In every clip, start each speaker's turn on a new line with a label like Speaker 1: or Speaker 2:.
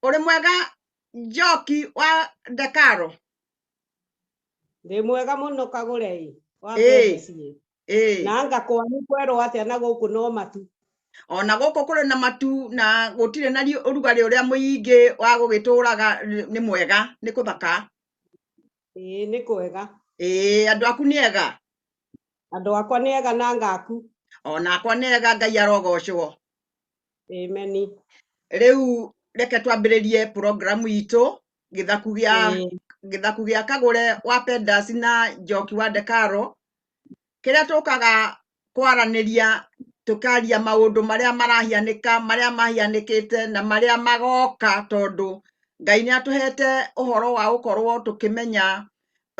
Speaker 1: ũrĩ mwega njoki wa ndekaro ndĩ mwega mũno kagũrei wa Ĩĩ. ĩĩ na anga kwanyu kwerwo atĩa na gũkũ no matu ona gũkũ kũrĩ na matu na gũtirĩ na riũ- ũrugarĩ ũrĩa mũingĩ wa gũgĩtũraga nĩ- nĩ mwega nĩ kũthaka ĩĩ nĩ kwega ĩĩ andũ aku nĩ ega andũ akwa nĩ ega na ngaku onakwa nĩ ega ngai arogocwo ĩmeni rĩu reke twambĩrĩrie programu itũ gĩthaku gĩa gĩthaku gĩa kagũre wa pendas na njoki wa ndekaro kĩrĩa tũkaga kwaranĩria tũkaria maũndũ marĩa marahianĩka marĩa mahianĩkĩte na marĩa magoka tondũ Ngai nĩ atũhete ũhoro wa gũkorwo tũkĩmenya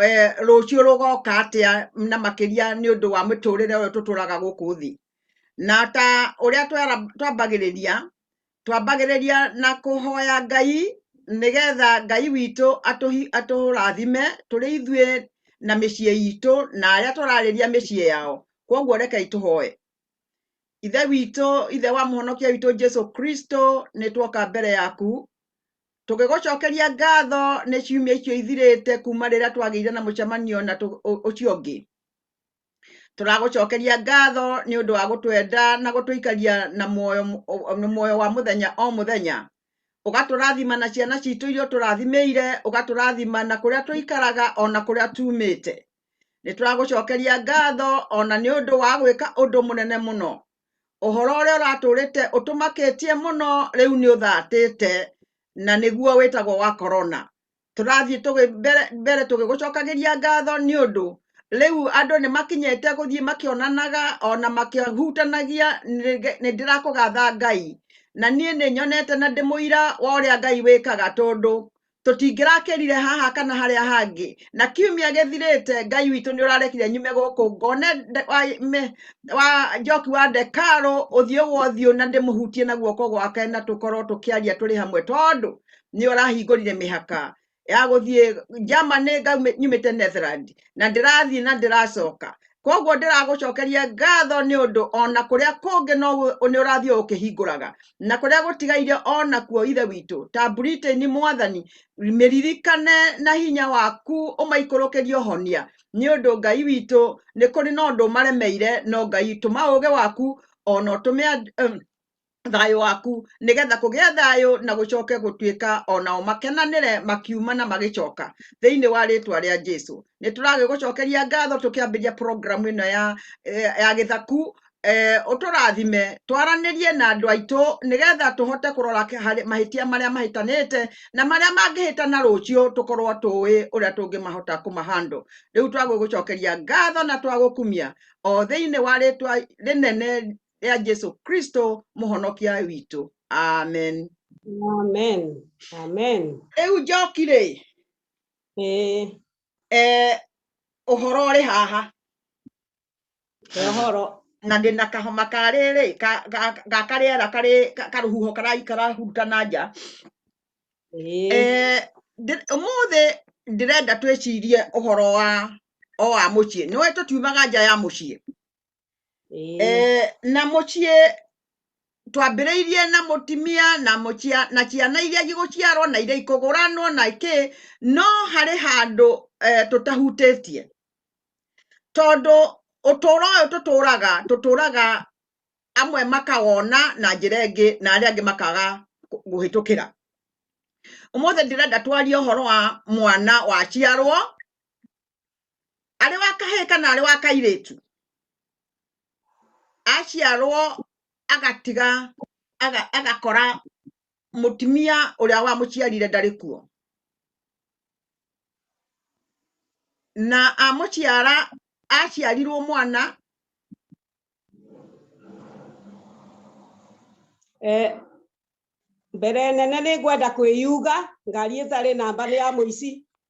Speaker 1: eh, rũciũ rũgoka atĩa na makĩria nĩ ũndũ wa mĩtũrĩre ũyũ tũtũraga gũkũ thĩ na ta ũrĩa twambagĩrĩria twambagĩrĩria na kũhoya ngai nĩgetha ngai witũ atũrathime tũrĩ ithuĩ na mĩciĩ itũ na arĩa tũrarĩria mĩciĩ yao kwoguo rekei tũhoe ithe witũ ithe wa mũhonokia witũ jesu kristo nĩ tuoka mbere yaku tũgĩgũcokeria ngatho nĩ ciumia icio ithirĩte kuma rĩrĩa twagĩire na mũcemanio na ũcio ũngĩ tũragũcokeria ngatho nĩ ũndũ wa gũtwenda na gũtũikaria na muoyo na muoyo wa mũthenya o mũthenya ũgatũrathima na ciana citũ iria ũtũrathimĩire ũgatũrathima na kũrĩa tũikaraga o na kũrĩa tumĩte nĩ tũragũcokeria ngatho o na nĩ ũndũ wa gwĩka ũndũ mũnene mũno ũhoro ũrĩa ũratũrĩte ũtũmakĩtie mũno rĩu nĩ ũthatĩte na nĩguo wĩtagwo wa korona tũrathiĩ tũgĩ- mbere mbere tũgĩgũcokagĩria ngatho nĩ ũndũ rĩu andũ nĩ makinyĩte gũthiĩ makĩonanaga ona makĩhutanagia nĩge- nĩ ndĩrakũgatha ngai na niĩ nĩ nyonete na ndĩmũira wa ũrĩa ngai wĩkaga tondũ tũtingĩrakĩrire haha kana harĩa hangĩ na kiumia gĩthirĩte ngai witũ nĩ ũrarekire nyume gũkũ ngone nde- wa, me, wa njoki wa ndekarũ ũthiũ gwa ũthiũ na ndĩmũhutie na guoko gwake na tũkorwo tũkĩaria tũrĩ hamwe tondũ nĩ ũrahingũrire mĩhaka ya gũthiĩ Germany ngaumĩ- nyumĩte Netherland na ndĩrathiĩ na ndĩracoka koguo ndĩragũcokeria ngatho nĩ ũndũ ona kũrĩa kũngĩ no gũ- nĩ ũrathiĩ o ũkĩhingũraga na kũrĩa gũtigaire ona kuo ithe witũ ta Britain mwathani mĩririkane na hinya waku ũmaikũrũkĩrie ũhonia nĩ ũndũ ngai witũ nĩ kũrĩ na ũndũ ũmaremeire no ngai tũma ũũgĩ waku ona ũtũme and- em, thayũ waku nĩgetha kũgĩa thayũ na gũcoke gũtuĩka onao makenanĩre makiuma na magĩcoka thĩinĩ wa rĩtwa rĩa Jesu nĩ tũragĩ gũcokeria ngatho tũkĩambĩria programu ĩno ya, eh, ya gĩthaku eh, ũtũrathime twaranĩrie na andũ aitũ nĩgetha tũhote kũrora mahĩtia marĩa mahĩtanĩte na marĩa mangĩhĩta na rũciũ tũkorwo tũĩ ũrĩa tũngĩmahota kũmahandũ rĩu twagũgũcokeria ngatho na twagũkumia o thĩinĩ wa rĩtwa rĩnene rĩa jesu kristo mũhonokia witũ amen Amen. Amen. rĩu njoki rĩ Eh, eh, ũhoro ũrĩ haha ũhoro. na ndĩ na kahoma karĩ rĩ ka- ga- ga karĩera karĩ ka- karũhuho karai- karahurutana nja Eh, Eh, ndĩ- ũmũthĩ ndĩrenda twĩcirie ũhoro wa o wa mũciĩ nĩwe tũtiumaga nja ya mũciĩ Ĩĩ. Eh, na muciĩ twambĩrĩirie na mũtimia na mũcia na ciana iria igũciarwo na iria ikũgũranwo na kĩ no harĩ handũ eh, tũtahutĩtie tondũ ũtũũro ũyũ tũtũũraga tũtũũraga amwe makawona na njĩra ĩngĩ na arĩa angĩ makaga kũ- kũhĩtũkĩra ũmũthĩ ndĩrenda twarie ũhoro wa mwana waciarwo arĩ wa kahĩĩ kana arĩ wa kairĩtu aciarwo agatiga aga- agakora mũtumia ũrĩa wamũciarire ndarĩ kuo na amũciara aciarirwo mwana Eh, mbere nene nĩ ngwenda kwĩyuga ngari ĩtarĩ namba nĩ ya mũici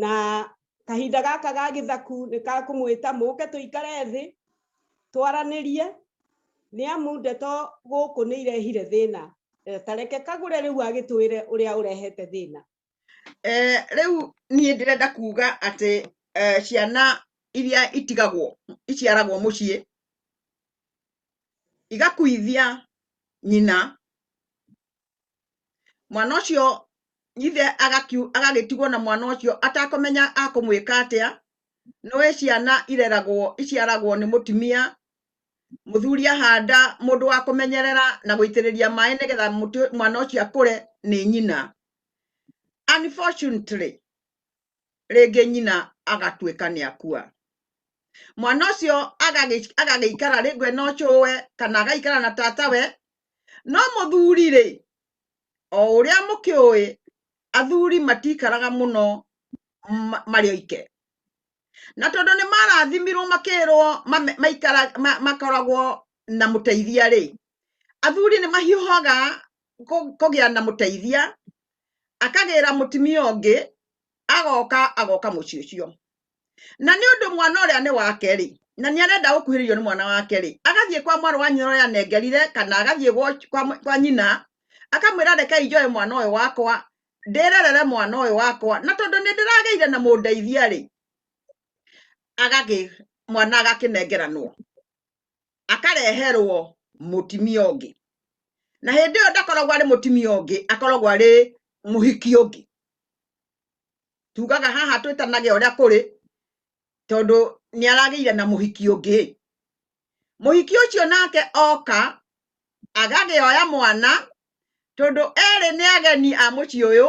Speaker 1: na kahinda gaka ga gĩthaku nĩ ka kũmwĩta mũke tũikare thĩ twaranĩrie nĩ amu ndeto gũkũ nĩ irehire thĩna eh, tareke kagũre rĩu agĩtwĩre ũrĩa ũrehete thĩna eh, rĩu niĩ ndĩrenda kuga atĩ eh, ciana iria itigagwo iciaragwo mũciĩ igakuithia nyina mwana ũcio ithe agakiu- agagĩtigwo na mwana ũcio atakũmenya akũmwĩka atĩa nĩwe ciana ireragwo iciaragwo nĩ mũtumia mũthuri ahanda mũndũ wa kũmenyerera na gũitĩrĩria maĩ nĩgetha mũtĩ- mwana ũcio akũre nĩ nyina unfortunately rĩngĩ nyina agatuĩka nĩ akua mwana ũcio agagĩikara rĩngĩ ena ũcũwe kana agaikara na tatawe no mũthuri rĩ o ũrĩa mũkĩũĩ athuri matikaraga mũno marĩ oike na tondũ nĩ marathimirwo makĩrwo makoragwo na mũteithia rĩ athuri nĩ mahiũhaga kũ- kũgĩa na mũteithia akagĩra mũtumia ũngĩ agoka agoka mũciĩ ũcio na nĩ ũndũ mwana ũrĩa nĩ wake rĩ na nĩ arenda gũkuhĩrĩrio nĩ mwana wake rĩ agathiĩ kwa mwarĩ wa nyina ũrĩa anengerire kana agathiĩ gwa, kwa, mũ- kwa nyina akamwĩra rekei njoe mwana ũyũ wakwa ndĩrerere mwana ũyũ wakwa na tondũ nĩ ndĩragĩire na mũndeithia rĩ agagĩ mwana agakĩnengeranwo akareherwo mũtimia ũngĩ na hĩndĩ ĩyo ndakoragwo arĩ mũtimia ũngĩ akoragwo arĩ mũhiki ũngĩ tugaga haha twĩtanage ũrĩa kũrĩ tondũ nĩ aragĩire na mũhiki ũngĩ mũhiki ũcio nake oka agagĩoya mwana tondũ erĩ nĩ ageni a mũciĩ ũyũ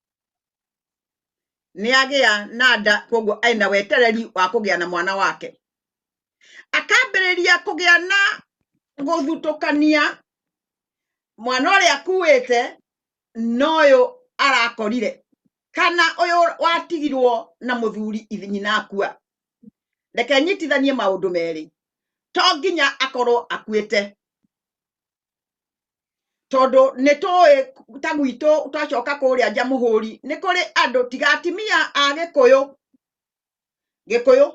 Speaker 1: nĩ agĩa na nda koguo arĩ na wetereri wa kũgĩa na mwana wake akambĩrĩria kũgĩa na gũthutũkania mwana ũrĩa akuĩte na ũyũ arakorire kana ũyũ watigirwo na mũthuri ithi- nyina akua reke nyitithanie maũndũ merĩ to nginya akorwo akuĩte tondũ nĩ tũĩ ta gwitũ twacoka kũrĩa nja mũhũri nĩ kũrĩ andũ tiga atimia a gĩkũyũ gĩkũyũ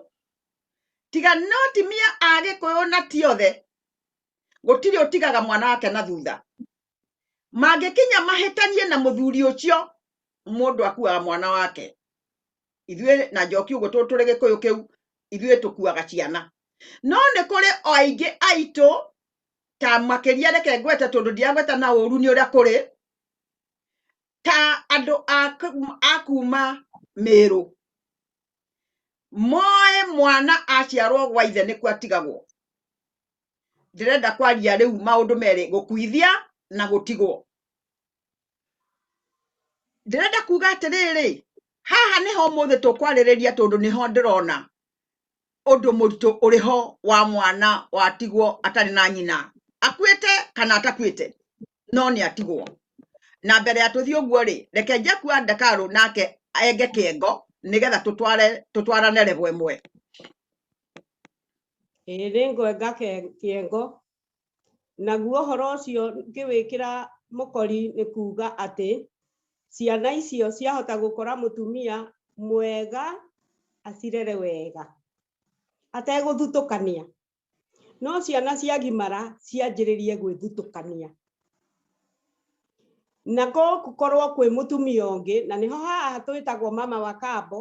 Speaker 1: tiga no atimia a gĩkũyũ na ti othe gũtirĩ ũtigaga mwana wake na thutha mangĩkinya mahĩtanie na mũthuri ũcio mũndũ akuaga mwana wake ithuĩ na njoki ũguo tũ- tũrĩ gĩkũyũ kĩu ithuĩ tũkuaga ciana no nĩ kũrĩ o aingĩ aitũ ta makĩria reke ngwete tondũ ndiagweta na ũru nĩ ũrĩa kũrĩ ta andũ a kũ- a kuma mĩrũ moĩ mwana aciarwo gwa ithe nĩkuo atigagwo ndĩrenda kwaria rĩu maũndũ merĩ gũkuithia na gũtigwo ndĩrenda kuga atĩrĩrĩ haha nĩho mũthĩ tũkwarĩrĩria tondũ nĩho ndĩrona ũndũ mũritũ ũrĩ ho wa mwana watigwo atarĩ na nyina akuĩte kana atakuĩte no nĩ atigwo na mbere ya tũthiĩ ũguo rĩ reke njaku wa ndakarũ nake enge kĩengo nĩgetha tũtware tũtwarane level ĩmwe Ĩĩ nĩ ngwenga ke- kĩengo. Naguo ũhoro ũcio ngĩwĩkĩra mũkori nĩ kuuga atĩ ciana icio ciahota gũkora mũtumia mwega acirere wega ategũthutũkania no ciana ciagimara cianjĩrĩrie gwĩthutũkania na gũkorwo kwĩ mũtumia ũngĩ na nĩho haha twĩtagwo mama wa kambo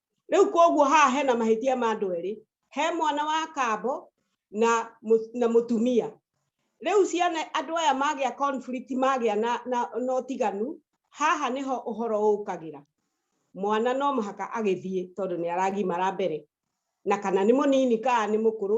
Speaker 1: rä u koguo haha hena mahä tia ma andå erä he mwana wa kambo na mũ- na må tumia rä u ciana andå aya magä a magä a na, na, na å tiganu haha nä ho å horo å kagä ra mwana no mũhaka agĩthiĩ tondũ nĩ aragimara mbere na kana nĩ mũnini kana nĩ mũkũrũ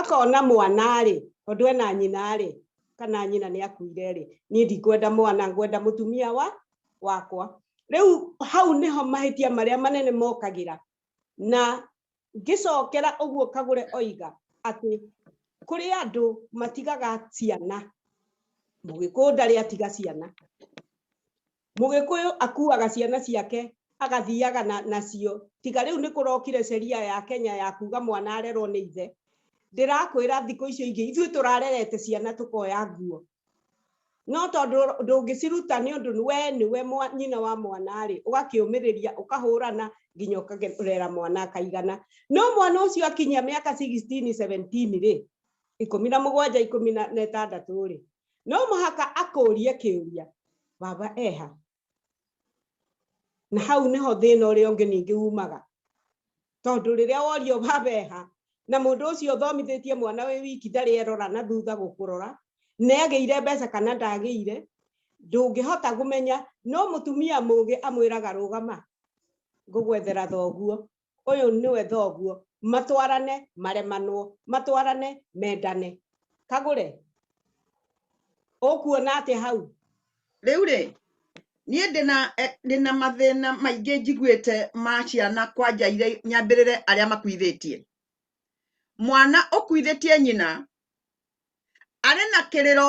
Speaker 1: akona mwana-rĩ tondũ ena nyina-rĩ kana nyina nĩ akuire-rĩ niĩ ndikwenda mwana ngwenda mũtumia wa wakwa rĩu hau nĩho mahĩtia marĩa manene mokagĩra na ngĩcokera ũguo kagũre oiga atĩ kũrĩ andũ matigaga ciana mũgĩkũyũ ndarĩ atiga ciana Mũgĩkũyũ akuaga ciana ciake agathiaga na nacio tiga rĩu nĩ kũrokire sheria ya Kenya ya kuga mwana arerwo nĩ ithe ndĩrakwĩra thikũ icio ingĩ ithuĩ tũrarerete ciana tũkoya nguo no tondũ ndũngĩciruta nĩ ũndũ we nĩwe nyina wa mwana rĩ ũgakĩũmĩrĩria ũkahũrana nginya ũkarera mwana akaigana no mwana ũcio akinyia mĩaka 16 17 rĩ ikũmi na mũgwanja ikũmi na ĩtandatũ rĩ no mũhaka akũrie kĩũria baba eha na hau nĩho thĩna ũrĩa ũngĩ ningĩ umaga tondũ rĩrĩa worio baba eha na mũndũ ũcio ũthomithĩtie mwana wĩ wiki ndarĩ erora na thutha gũkũrora nĩ agĩire mbeca kana ndagĩire ndũngĩhota kũmenya no mũtumia mũgĩ amwĩraga rũgama ngũgwethera thoguo ũyũ nĩwe thoguo matwarane maremanwo matwarane mendane kagũre ũkuona atĩ hau rĩu rĩ niĩ ndĩna eh, ndĩna mathĩna maingĩ njiguĩte ma ciana kwanja irĩa nyambĩrĩre arĩa makuithĩtie mwana ũkuithĩtie nyina arĩ na kĩrĩro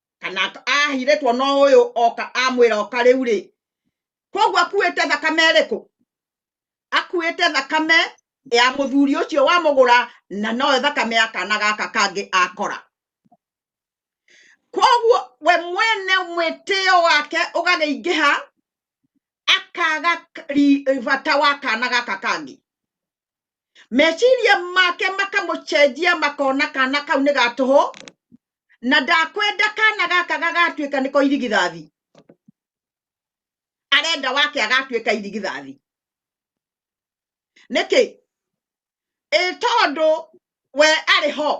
Speaker 1: kana ahirĩtwo no ũyũ oka amwĩra oka rĩu rĩ koguo akuĩte thakame ĩrĩkũ akuĩte thakame ya mũthuri ũcio wa mũgũra na noyo thakame ya kana gaka kangĩ akora koguo we mwene mwĩtĩo wake ũgagĩingĩha akaga bata wa kana gaka kangĩ meciria make makamũcenjia makona kana kau nĩ gatũhũ na ndakwenda kana gaka gagatuĩka nĩko irigithathi arenda wake agatuĩka irigithathi nĩkĩ ĩ tondũ we arĩ ho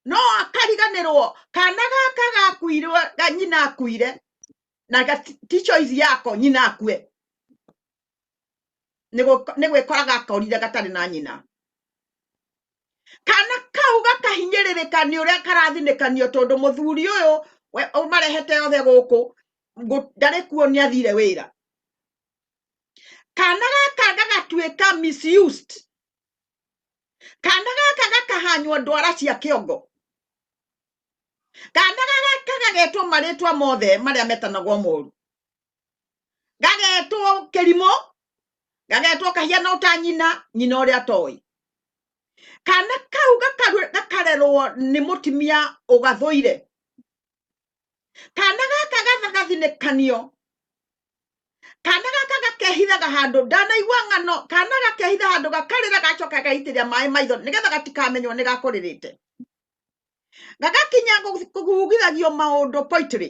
Speaker 1: no akariganĩrwo kana gaka gakuirwo ga- nyina akuire na gati- ti choice yako nyina akue nĩ gwĩkora gakorire gatarĩ na nyina kana kau gakahinyĩrĩrĩka nĩ ũrĩa karathinĩkanio tondũ mũthuri ũyũ we- ũmarehete othe gũkũ ngũ- ndarĩ kuo nĩ athire wĩra kana gaka gagatuĩka misused kana gaka gakahanywo ndwara cia kĩongo kana gaka gagetwo marĩtwa mothe marĩa metanagwo moru gagetwo kĩrimũ gagetwo kahiana ũta nyina nyina ũrĩa atoĩ kana kau gakarerwo nĩ mũtimia ũgathũire kana gaka gathagathinĩkanio kana gaka gakehithaga handũ ndanaigua ng'ano kana gakehitha handũ gakarĩra gacoka gaitĩrĩra maĩ maitho nĩgetha gatikamenywo nĩ gakũrĩrĩte gagakinya kũgugithagio maũndũ poitĩrĩ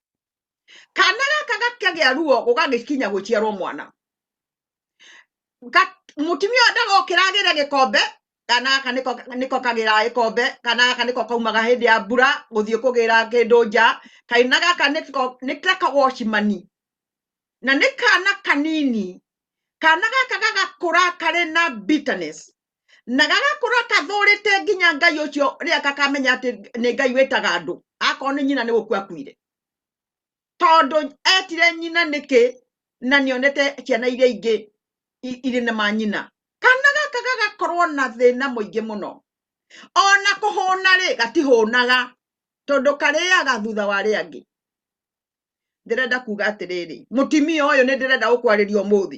Speaker 1: kana gaka gakagĩa ruo gũgagĩkinya gũciarwo mwana Ga- mũtumia ũyũ ndagokĩra agĩre gĩkombe kana gaka nĩko nĩko kagĩraga gĩkombe kana gaka nĩko kaumaga hĩndĩ ya mbura gũthiĩ kũgĩra kĩndũ nja kaina gaka nĩko nĩ ta kawocimani na nĩ kana kanini kana gaka gagakũra karĩ na bitterness na gagakũra kathũrĩte nginya ngai ũcio rĩrĩa kakamenya atĩ nĩ ngai wĩtaga andũ akorwo nĩ nyina nĩ gũkua akuire tondũ etire nyina nĩkĩ na nĩonete ciana iria ingĩ i- irĩ na manyina kana gaka gagakorwo na thĩna mũingĩ mũno ona kũhũna rĩ gatihũnaga tondũ karĩaga thutha wa rĩa angĩ ndĩrenda kuga atĩrĩrĩ mũtimia ũyũ nĩ ndĩrenda gũkwarĩria ũmũthĩ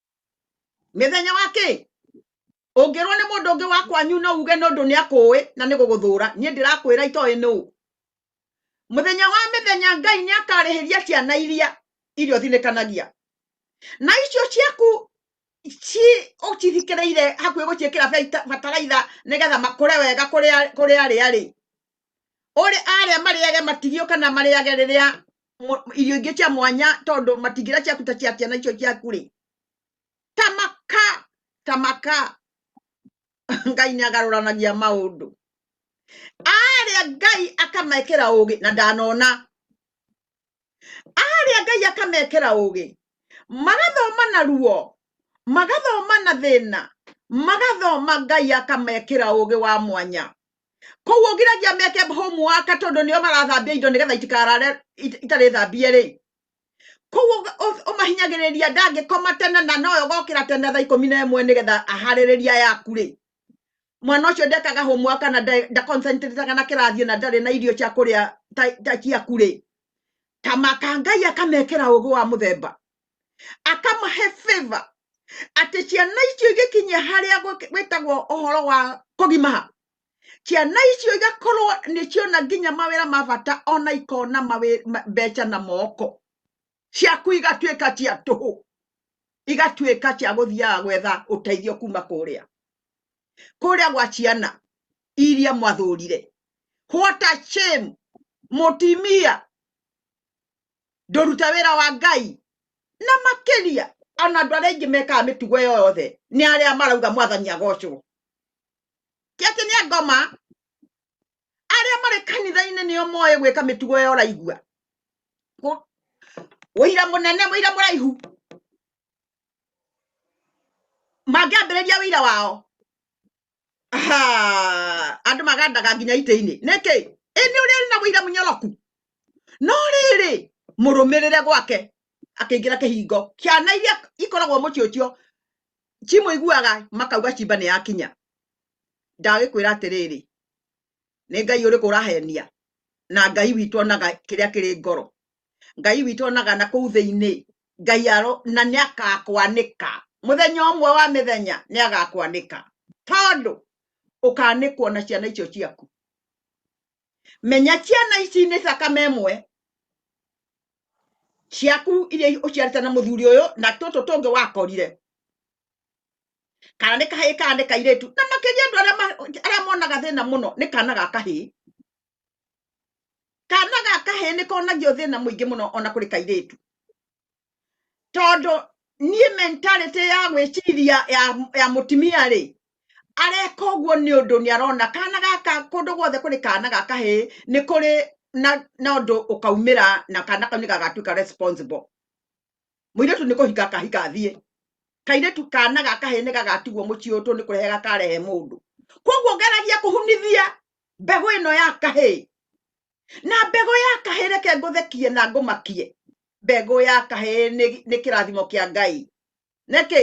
Speaker 1: mĩthenya wa kĩ ũngĩrwo nĩ mũndũ ũngĩ wa kwanyu no uge nĩ ũndũ nĩ akũĩ na nĩ gũgũthũra niĩ ndĩrakwĩra itoĩ nũ mũthenya wa mĩthenya ngai nĩ akarĩhĩria ciana iria iria ũthinĩkanagia na icio ciaku ci ũcithikĩrĩire hakuhĩ gũciĩkĩra beta- bataraitha nĩgetha makũre wega kũrĩa kũrĩa arĩa rĩ ũrĩ arĩa marĩage matirio kana marĩage rĩrĩa mũ- irio ingĩ cia mwanya tondũ matingĩra ciaku ta cia ciana icio ciaku rĩ tamaka tamaka ngai nĩ agarũranagia maũndũ arĩa ngai akamekĩra ũgĩ na ndanona arĩa ngai akamekĩra ũgĩ magathoma na ruo magathoma na thĩna magathoma ngai akamekĩra ũgĩ wa mwanya koguo ngiragia meke homework tondũ nĩo marathambia indo nĩgetha itikarare it- itarĩ thambie rĩ koguo ũga- ũ- ũmahinyagĩrĩria ndangĩkoma tene na noyo gokĩra tene thaa ikũmi na ĩmwe nĩgetha aharĩrĩria yaku rĩ mwana ũcio ndekaga homework kana nda- ndaconcentrataga na kĩrathi na ndarĩ na irio cia kũrĩa ta- ta ciaku rĩ ta maka ngai akamekĩra ũgĩ wa mũthemba akamahe favor atĩ ciana icio igĩkinyia harĩa gwĩ- gwĩtagwo ũhoro wa kũgimaha ciana icio igakorwo nĩciona nginya mawĩra ma bata ona ikona mawĩ- ma- mbeca na moko ciaku igatuĩka cia tũhũ igatuĩka cia gũthiaga gwetha ũteithio kuma kũrĩa kũrĩa gwa ciana iria mwathũrire what a shame mũtimia ndũruta wĩra wa ngai na makĩria ona andũ arĩa aingĩ mekaga mĩtugo ĩyo yothe nĩ arĩa marauga mwathani agocwo tiatĩ nĩ angoma arĩa marĩ kanitha-inĩ nĩo moĩ gwĩka mĩtugo ya ũraigua Kũ- ũira mũnene ũira mũraihu mangĩambĩrĩria ũira wao aha, andũ magandaga nginya itĩ-inĩ nĩkĩ ĩnĩ ũrĩa arĩ na ũira mũnyoroku no rĩrĩ mũrũmĩrĩre gwake akĩingĩra kĩhingo ciana iria ikoragwo mũciĩ ũcio cimũiguaga makauga cimba nĩ yakinya ndagĩkwĩra atĩrĩrĩ nĩ ngai ũrĩkũ ũrahenia na ngai witũ onaga kĩrĩa kĩrĩ ngoro ngai witũ onaga na kũu thĩinĩ ngai aro na nĩ agakwanĩka mũthenya ũmwe wa mĩthenya nĩ agakwanĩka tondũ ũkanĩkwo na ciana icio ciaku menya ciana ici nĩ thakame ĩmwe ciaku iria ũciarĩte na mũthuri ũyũ na tũtũ tũngĩ wakorire kana nĩ kahĩĩ kana nĩ kairĩtu na makĩria andũ arĩa ma- arĩa monaga thĩna mũno nĩ kana ga kahĩĩ kana ga kahĩĩ nĩ konagio thĩna mũingĩ mũno ona kũrĩ kairĩtu tondũ niĩ mentality ya gwĩciria ya, ya mũtumia rĩ areka ũguo nĩ ũndũ nĩ arona kana gaka kũndũ guothe kũrĩ kana ga kahĩĩ nĩ kũrĩ na, na ũndũ ũkaumĩra na kana kau nĩ gagatuĩka responsible muiritu ni kuhika kahika athie kairetu kana gaka he ni gagatigwo muciĩ ũtũ nĩ kũrehe gakarehe mũndũ koguo ngeragia kũhunithia mbegũ ĩno ya kahĩ na mbegũ ya kahĩ reke ngũthekie na ngũmakie mbegũ ya kahĩ nĩ- nĩ kĩrathimo kĩa ngai nĩkĩ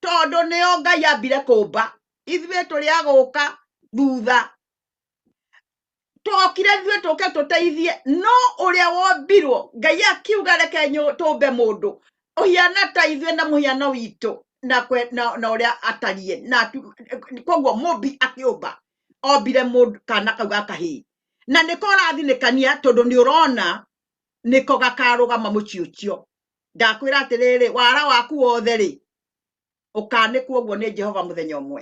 Speaker 1: tondũ nĩyo ngai ambire kũmba ithuĩ tũrĩa gũka thutha twokire ithuĩ tũke tũteithie no ũrĩa wombirwo ngai akiuga reke nyũ- tũmbe mũndũ ũhiana ta ithuĩ na mũhiano witũ na kwe- na- na ũrĩa atariĩ na atu- koguo mũmbi akĩũmba ombire mũndũ kana kau ga kahĩĩ na nĩko ũrathinĩkania tondũ nĩ ũrona nĩko gakarũgama mũciĩ ũcio ndakwĩra atĩrĩrĩ wara waku wothe rĩ ũkanĩkwo ũguo nĩ jehova mũthenya ũmwe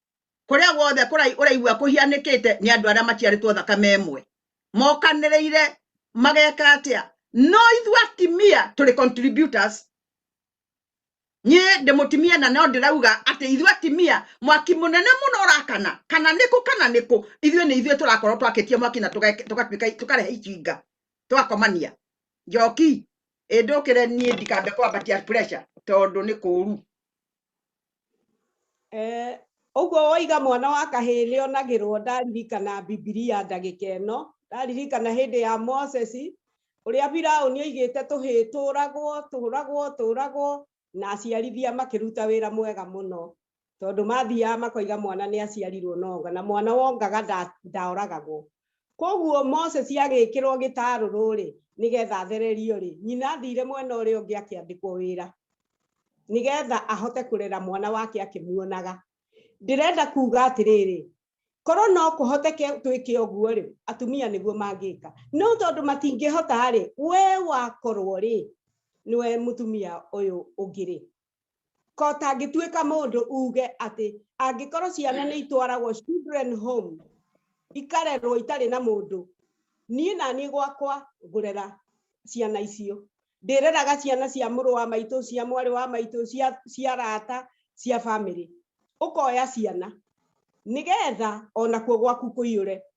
Speaker 1: kũrĩa guothe kũrai- ũraigua kũhianĩkĩte nĩ andũ arĩa maciarĩtwo thakame ĩmwe mokanĩrĩire mageka atĩa no ithuĩ atimia tũrĩ contributors niĩ ndĩ mũtimia na no ndĩrauga atĩ ithuĩ atimia mwaki mũnene mũno ũrakana kana nĩkũ kana nĩkũ ithuĩ nĩ ithuĩ tũrakorwo twakĩtie mwaki na tũgeke- tũgatuĩka tũkarehe icinga tũgakomania njoki ĩndũkĩre niĩ ndikambe kwambatia pressure tondũ nĩ kũũru Eh, ũguo woiga mwana wa kahĩĩ nĩ onagĩrwo ndaririkana bibilia ndagĩka ĩno ndaririkana hĩndĩ ya moses ũrĩa firaũni oigĩte tũhĩĩ tũragwo tũragwo tũragwo na aciarithia makĩruta wĩra mwega mũno tondũ mathiaga makoiga mwana nĩ aciarirwo na onga na mwana wongaga nda- ndaoragagwo Kwoguo Moses agĩkĩrwo gĩtarũrũ-rĩ, nĩgetha athererio-rĩ, nyina athiire mwena ũrĩa ũngĩ akĩandĩkwo wĩra, nĩgetha ahote kũrera mwana wake akĩmuonaga. Ndĩrenda kuuga atĩrĩrĩ, korwo no kũhoteke twĩke ũguo-rĩ, atumia nĩguo mangĩka. No tondũ matingĩhota-rĩ, wee wakorwo-rĩ, nĩwe mũtumia ũyũ ũngĩ-rĩ, ko tangĩtuĩka mũndũ uge atĩ angĩkorwo ciana nĩ itwaragwo children home ikarerwo itarĩ na mũndũ niĩ na niĩ gwakwa ngũrera ciana icio ndĩreraga ciana cia mũrũ wa maitũ cia mwarĩ wa maitũ cia cia rata cia bamĩrĩ ũkoya ciana nĩgetha ona kuo gwaku kũiyũre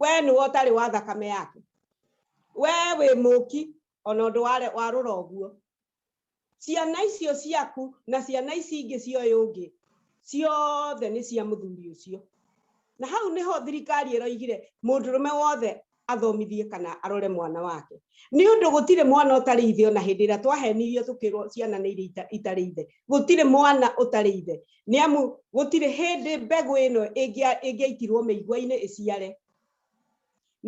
Speaker 1: we nĩwe ũtarĩ wa thakame yake we wĩ mũki ona ũndũ ware- warũra ũguo ciana icio ciaku na ciana ici ingĩ cia ũyũ ũngĩ ciothe nĩ cia mũthuri ũcio na hau nĩho thirikari ĩroigire mũndũrũme wothe athomithie kana arore mwana wake nĩ ũndũ gũtirĩ mwana ũtarĩ ithe ona hĩndĩ ĩrĩa twahenirio tũkĩrwo ciana nĩ iria ita- itarĩ ithe gũtirĩ mwana ũtarĩ ithe nĩ amu gũtirĩ hĩndĩ mbegũ ĩno ĩngĩaitirwo mĩigua-inĩ ĩciare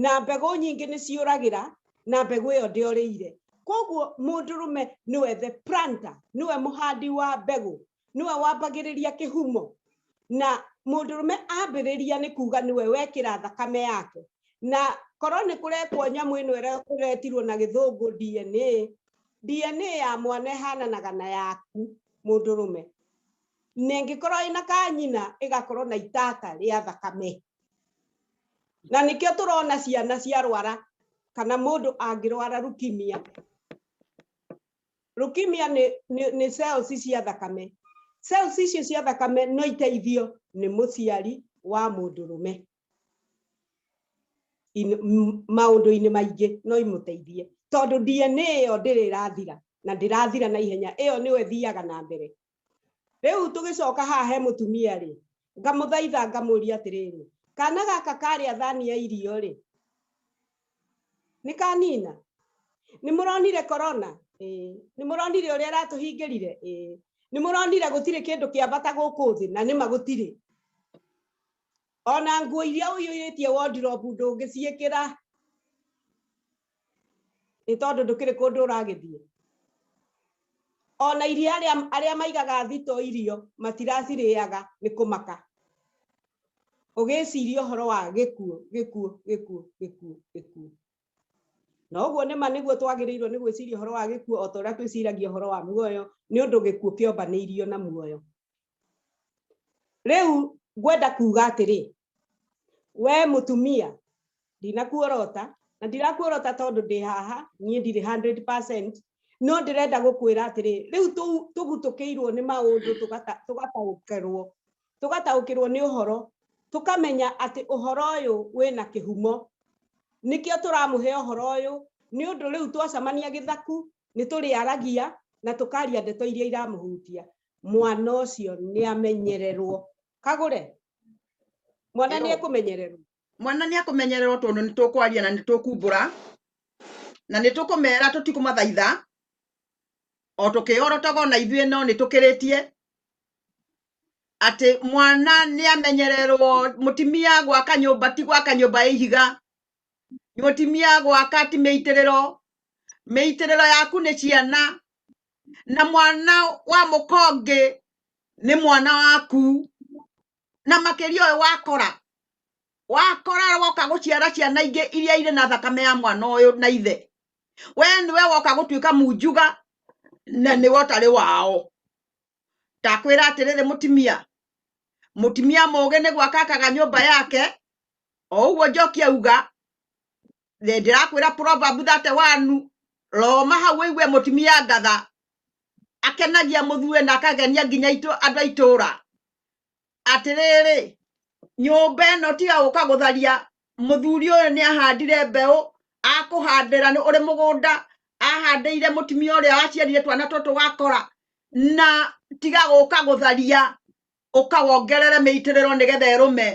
Speaker 1: na mbegũ nyingĩ nĩ ciũragĩra na mbegũ ĩyo ndĩorĩire koguo mũndũrũme nĩwe the planter nĩwe mũhandi wa mbegũ nĩwe wambagĩrĩria kĩhumo na mũndũrũme ambĩrĩria nĩ kuga nĩwe wekĩra thakame yake na korwo nĩ kũrekwo nyamũ ĩno ĩretirwo na gĩthũngũ DNA DNA ya mwana ĩhananaga na yaku mũndũrũme na ĩngĩkorwo ĩna kanyina ĩgakorwo na itata rĩa thakame na nĩkĩo tũrona ciana ciarwara kana mũndũ angĩrwara leukemia leukemia nĩ nĩ cells cia thakame cells icio cia thakame no iteithio nĩ mũciari wa mũndũ rũme maũndũ-inĩ maingĩ no imũteithie tondũ DNA ĩyo ndĩrĩ ĩrathira na ndĩrathira na ihenya ĩyo nĩyo ĩthiaga na mbere rĩu tũgĩcoka haha he mũtumia rĩ ngamũthaitha ngamũria atĩrĩrĩ kana gaka karĩa thani ya irio rĩ nĩ kanina nĩ mũronire korona nĩ mũronire ũrĩa aratũhingĩrire nĩ mũronire gũtirĩ kĩndũ kĩa bata gũkũ thĩ na nĩma gũtirĩ Ona nguo iria ũiyũrĩtie wondirobu ndũngĩciĩkĩra nĩ tondũ ndũkĩrĩ kũndũ ũragĩthiĩ. Ona irio arĩa arĩa maigaga thito irio matiracirĩaga nĩ kũmaka. Ũgĩciria ũhoro wa gĩkuũ, gĩkuũ, gĩkuũ, gĩkuũ, gĩkuũ. Na ũguo nĩ ma nĩguo twagĩrĩirwo nĩ gwĩciria ũhoro wa gĩkuũ o ta ũrĩa twĩciragia ũhoro wa muoyo nĩ ũndũ gĩkuũ kĩombanĩirio na muoyo. Rĩu ngwenda kuga atĩrĩ, we mũtumia ndinakuorota na ndirakuorota tondũ ndĩ haha niĩ ndirĩ 100% no ndĩrenda gũkwĩra atĩrĩ rĩu tũgutũkĩirwo nĩ maũndũ tũgataũkĩrwo tũgataũkĩrwo nĩ ũhoro tũkamenya atĩ ũhoro ũyũ wĩna kĩhumo nĩkĩo tũramũhe ũhoro ũyũ nĩ ũndũ rĩu twacamania gĩthaku nĩ tũrĩaragia na tũkaria ndeto iria iramũhutia mwana ũcio nĩ amenyererwo kagũre mwana nĩ ekũmenyererwo mwana nĩ ekũmenyererwo tondũ nĩ tũkwaria na nĩ tũkumbũra na nĩ tũkũmera tũtikũmathaitha o tũkĩhorotoga na ithuĩ no nĩ tũkĩrĩtie atĩ mwana nĩ amenyererwo mũtimia gwaka nyũmba ti gwaka nyũmba ya ihiga mũtimia gwaka ti mĩitĩrĩro mĩitĩrĩro yaku nĩ ciana na mwana wa mũkonge nĩ mwana waku na makĩria ũyũ wakora wakora woka gũciara ciana ingĩ iria irĩ na thakame ya mwana ũyũ na ithe we nĩwe woka gũtuĩka munjuga na nĩwe ũtarĩ wao ndakwĩra atĩrĩrĩ mũtimia mũtimia mũgĩ nĩ gwaka akaga nyũmba yake o ũguo njoki auga Ndĩ- ndĩrakwĩra proverb that one roma hau wĩigue mũtumia ngatha akenagia mũthue na akagenia nginya itũ- andũ a itũũra atĩrĩrĩ nyũmba ĩno tiga gũka gũtharia mũthuri ũyũ nĩ ahandire mbeũ akũhandĩra nĩ ũrĩ mũgũnda ahandĩire mũtumia ũrĩa waciarire twana tũtũ wakora na tiga gũka gũtharia ũka wongerere mĩitĩrĩro nĩgetha ĩrũme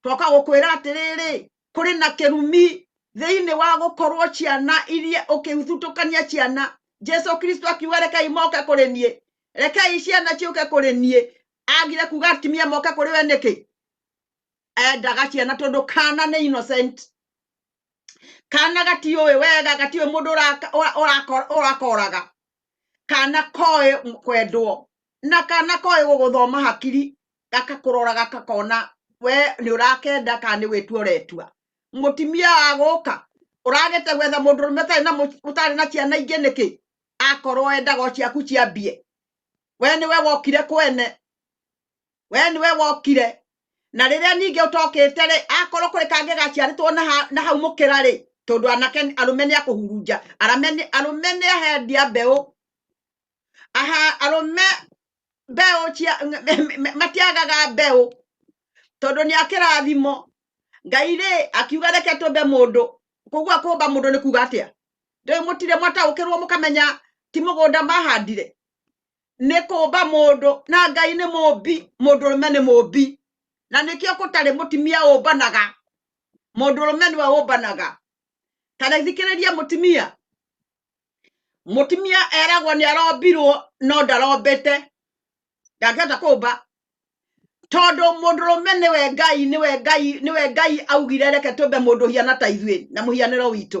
Speaker 1: twoka gũkwĩra atĩrĩrĩ kũrĩ na kĩrumi thĩinĩ wa gũkorwo ciana iria ũkĩthutũkania ciana jesu kristo akiuga rekei moke kũrĩ niĩ rekei ciana ciũke kũrĩ niĩ agire kuga atumia moke kũrĩ we nĩkĩ endaga ciana tondũ kana nĩ innocent kana gatiũĩ wega gatiũĩ mũndũ ũrakoraga kana koĩ kwendwo na kana koĩ gũgũthoma hakiri gakakũrora gakakona we nĩ ũrakenda kana nĩ gwĩtua ũretua mũtimia wa gũka ũragĩte gwetha mũndũ rũme ũtarĩ na mũ- ũtarĩ na ciana ingĩ nĩkĩ akorwo endaga o ciaku ciambie we nĩwe wokire kwene we nĩwe wokire na rĩrĩa ningĩ ũtokĩte rĩ akorwo kũrĩ kangĩ gaciarĩtwo na ha- na hau mũkĩra rĩ tondũ anake arũme nĩ akũhurunja arame nĩ- arũme nĩ ahendia mbeũ aha arũme mbeũ cia m- m- m- matiagaga mbeũ tondũ nĩ akĩrathimo ngai rĩ akiuga reke tũmbe mũndũ kũgua kũmba mũndũ nĩ kuga atĩa ndĩrĩ mũtire mwataũkĩrwo mũkamenya ti mũgũnda mahandire nĩ kũmba mũndũ na ngai nĩ mũmbi mũndũ ũrũme nĩ mũmbi na nĩkĩo gũtarĩ mũtimia ũmbanaga mũndũ ũrũme nĩwe ũmbanaga ta rĩthikĩrĩria mũtimia mũtimia eragwo nĩ arombirwo no ndarombete ndangĩhota kũmba tondũ mũndũ ũrũme nĩwe ngai nĩwe ngai nĩwe ngai augire reke tũmbe mũndũ hiana ta ithuĩ na mũhianĩro witũ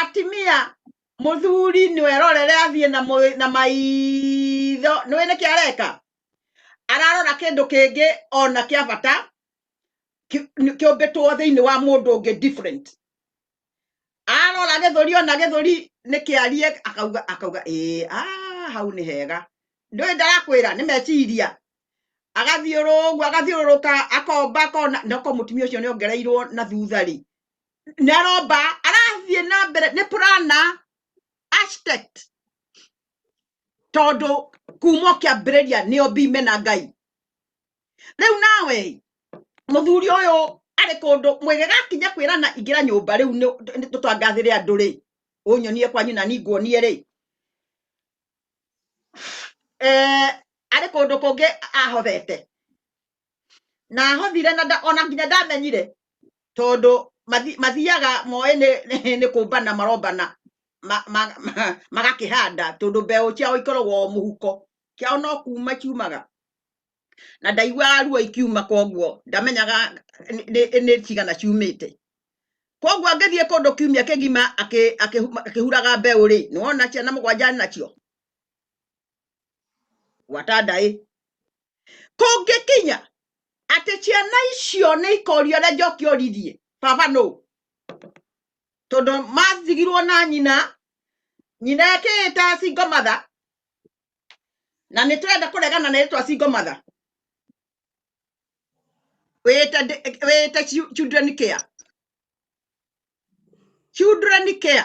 Speaker 1: atimia muthuri niwe rorere athiĩ na mũĩ- na maitho nĩwe nĩkĩ areka ararora kĩndũ kĩngĩ ona kĩa bata ki- nĩ- kĩũmbĩtwo thĩinĩ wa mũndũ ũngĩ different arora gĩthũri ona gĩthũri nĩkĩarie akauga akauga ĩĩ ah, hau nĩ hega ndũĩ ndarakwĩra nĩ meciria agathiũrũrũka agathiũrũrũka akomba akona noko mũtumia ũcio nĩ ongereirwo na thutha rĩ neromba arathiĩ na mbere nĩ purana architect tondũ kuma ũkĩambĩrĩria nĩo mbime na ngai rĩu nawe mũthuri ũyũ arĩ kũndũ mwĩge gakinya kwĩrana ingĩra nyũmba rĩu nĩ- nĩ tũtangathĩre andũ rĩ ũnyonie kwanyu na ninguonie rĩ eh, arĩ kũndũ kũngĩ ahothete na ahothire na nda- ona nginya ndamenyire tondå mathiaga moä nä kå mbana marombana ma- ma- ma- magakä handa tondå mbeå ciao ikoragwo o må huko kiao no kuma ciumaga na ndaiguaga ruo ikiuma koguo ndamenyaga nĩ- nĩ nĩ cigana ciumä te koguo angä thiä kå ndå kiumia kä gima akä huraga mbeå rä nä wona ciana må gwanja nacio watandai kũngĩkinya atĩ ciana icio nĩ ikorio ũrĩa njoki oririe baba nũ tondũ mathigirwo na nyina nyina ekĩĩta single mother na nĩ tũrenda kũregana na ĩtwa single mother wĩĩte ndi- wĩĩte chi- children care children care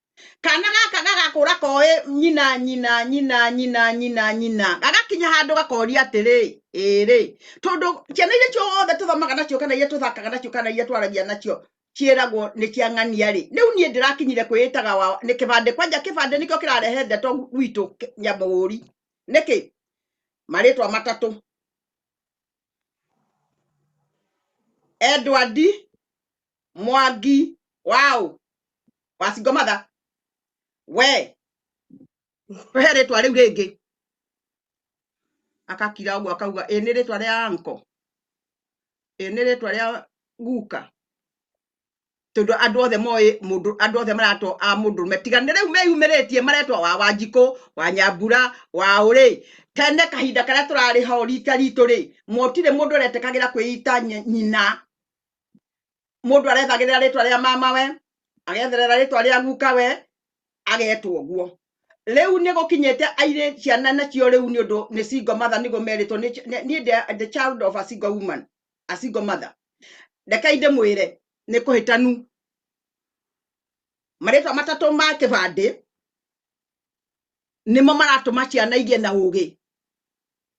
Speaker 1: kana gaka gagakũra koĩ nyina nyina nyina nyina nyina nyina gagakinya handũ gakoria atĩrĩ ĩrĩ tondũ ciana iria ciothe tũthomaga nacio kana iria tũthakaga nacio kana iria twaragia nacio ciĩragwo nĩ cia ng'ania rĩ rĩu niĩ ndĩrakinyire kwĩĩtaga wa nĩ kĩbandĩ kwanja kĩbandĩ nĩkĩo kĩrarehe ndeto gwitũ kĩ- nyamũhũri nĩkĩ marĩtwa matatũ Edward mwangi wow wacingo matha we he rĩtwa rĩu rĩngĩ akakira ũguo akauga ĩ nĩ rĩtwa rĩa anko ĩ nĩ rĩtwa rĩa guka tondũ andũ othe moĩ mũndũ andũ othe maratwo a mũndũrũme tiga nĩ rĩu meyumĩrĩtie maretwa wa wanjikũ wa nyambura wa ũrĩ tene kahinda karĩa tũrarĩ ho rita ritũ rĩ motire mũndũ ũretekagĩra kwĩita nyina mundu arethagirira ritwa ria mama we agetherera ritwa ria guka we agetwo guo riu ni gukinyite aire ciana nacio riu ni undu ni single mother nigo meritwo ni ni the- the child of a single woman a single mother rekai ndimwire ni kuhitanu maritwa matatu ma kibandi nimo maratuma ciana igĩe na ũgĩ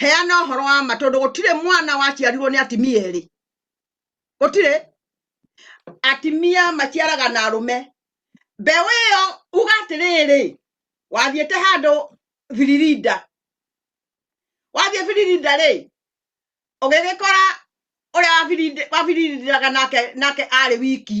Speaker 1: heana horo wa ma tondu gutire mwana waciarirwo ni atimia eri gutire atimia maciaraga na arume mbeũ ĩyo uga atĩrĩrĩ wathiĩte handũ biririnda wathiĩ biririnda rĩ ũgĩgĩkora ũrĩa wabirindiraga nake nake arĩ wiki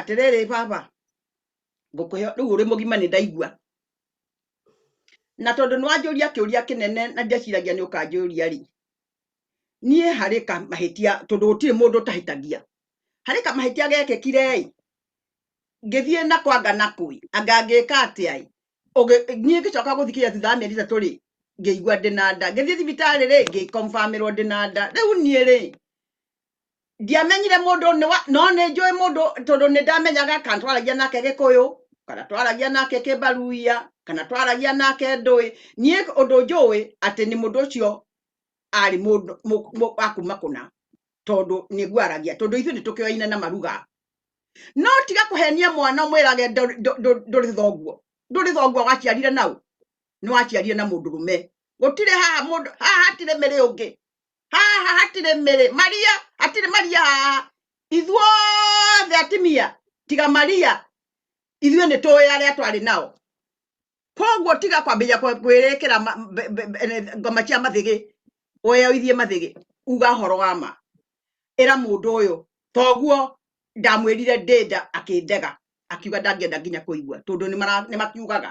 Speaker 1: atĩrĩrĩ baba ngũkũhe rĩu ũrĩ mũgima nĩ ndaigua na tondũ nĩ wanjũria kĩũria kĩnene na ndeciragia nĩ ũkanjũria rĩ niĩ harĩ ka mahĩtia tondũ gũtirĩ mũndũ ũtahĩtagia harĩ ka mahĩtia gekĩkire ĩ ngĩthiĩ na kwanga na kũi anga ngĩka atĩa ĩ Ũgĩ- niĩ ngĩcoka gũthikĩria thutha wa mĩeri ĩtatũ rĩ ngĩigua ndĩ na nda ngĩthiĩ thibitarĩ rĩ ngĩkombamirwo ndĩ na nda rĩu niĩ rĩ ndiamenyire mũndũ nĩ wa- no nĩ njũĩ mũndũ tondũ nĩ ndamenyaga kana twaragia nake gĩkũyũ kana twaragia nake kĩmbaruia kana twaragia nake ndũĩ niĩ ũndũ njũĩ atĩ nĩ mũndũ ũcio arĩ mũndũ mũ- mũ- wa kuma kũna tondũ nĩ ngwaragia tondũ ithuĩ nĩ tũkĩoaine na maruga no tiga kũhenia mwana ũmwĩrage ndũ- ndũ- ndũ- ndũrĩ thoguo ndũrĩ thoguo waciarire nau nĩ waciarire na mũndũrũme gũtirĩ haha mũndũ haha hatirĩ mĩrĩ ũngĩ haha hatirĩ mĩrĩ maria hatirĩ maria haha ithuothe atimia tiga maria ithuĩ nĩ tũĩ arĩa twarĩ nao koguo tiga kwambĩrĩria kwe- kwĩrĩkĩra ma- mbe- mbe- mbe- ngoma cia mathĩgĩ weyoithie mathĩgĩ uga horo wa ma ĩra mũndũ ũyũ toguo ndamwĩrire ndĩnda akĩndega akiuga ndangĩenda nginya kũigua tondũ nĩ mara- nĩ makiugaga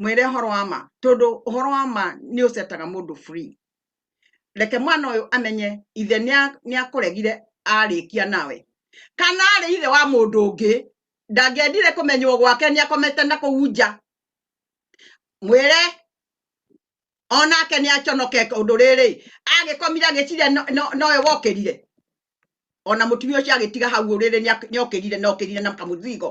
Speaker 1: mwĩre ũhoro wa ma tondũ ũhoro wa ma nĩ ũcetaga mũndũ free reke mwana ũyũ amenye ithe nĩa- nĩakũregire arĩkia nawe kana arĩ ithe wa mũndũ ũngĩ ndangĩendire kũmenywo gwake nĩakomete na kũu nja mwĩre onake nĩaconoke ũndũ rĩrĩ agĩkomire agĩcire no- no- nowe wokĩrire ona mũtumia ũcio agĩtiga hau ũrĩrĩ nĩokĩrire nokĩrire na kamũthigo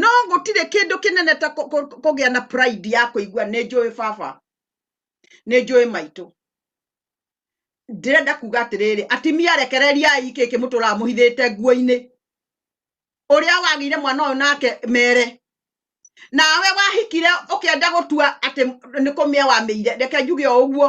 Speaker 1: no gũtirĩ kĩndũ kĩnene ta kũ- kũ- kũgĩa na pride ya kũigua nĩ njũĩ baba nĩ njũĩ maitũ ndĩrenda kuga atĩrĩrĩ atimia rekereriai kĩ kĩmũtũraga mũhithĩte nguo-inĩ ũrĩa wagĩire mwana ũyũ nake mere nawe wahikire ũkĩenda gũtua atĩ nĩ kũmĩa wamĩire reke njuge o ũguo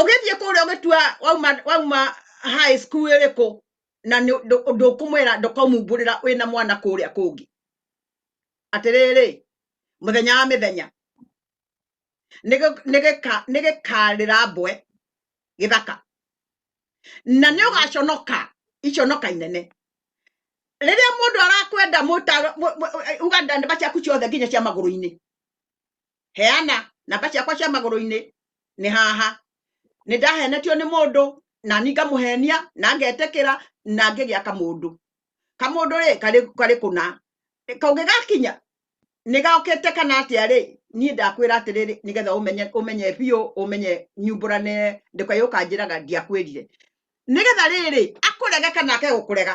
Speaker 1: ũgĩthiĩ kũrĩa ũgĩtua wauma wauma high school ĩrĩkũ na nĩ- ndũ- ndũkũmwĩra ndũkamumbũrĩra wĩna mwana kũrĩa kũngĩ atĩrĩrĩ mũthenya wa mĩthenya nĩgĩ- nĩgĩka- nĩgĩkarĩra mbwe gĩthaka na nĩ ũgaconoka iconoka inene rĩrĩa mũndũ arakwenda mũta- mũ- mũ- uga ndamba ciaku ciothe nginya cia magũrũ-inĩ heana namba ciakwa cia magũrũ-inĩ nĩ haha nĩ ndahenetio nĩ mũndũ na ni ngamũhenia na ngetĩkĩra na ngĩgĩa kamũndũ kamũndũ rĩ karĩ karĩ kũna kaũngĩgakinya nĩ gokĩte kana atĩa rĩ niĩ ndakwĩra atĩrĩrĩ nĩgetha ũmenye ũmenye biũ ũmenye nyumbũrane ndũkayũka njĩraga ndiakwĩrire nĩgetha rĩrĩ akũrege kana ake gũkũrega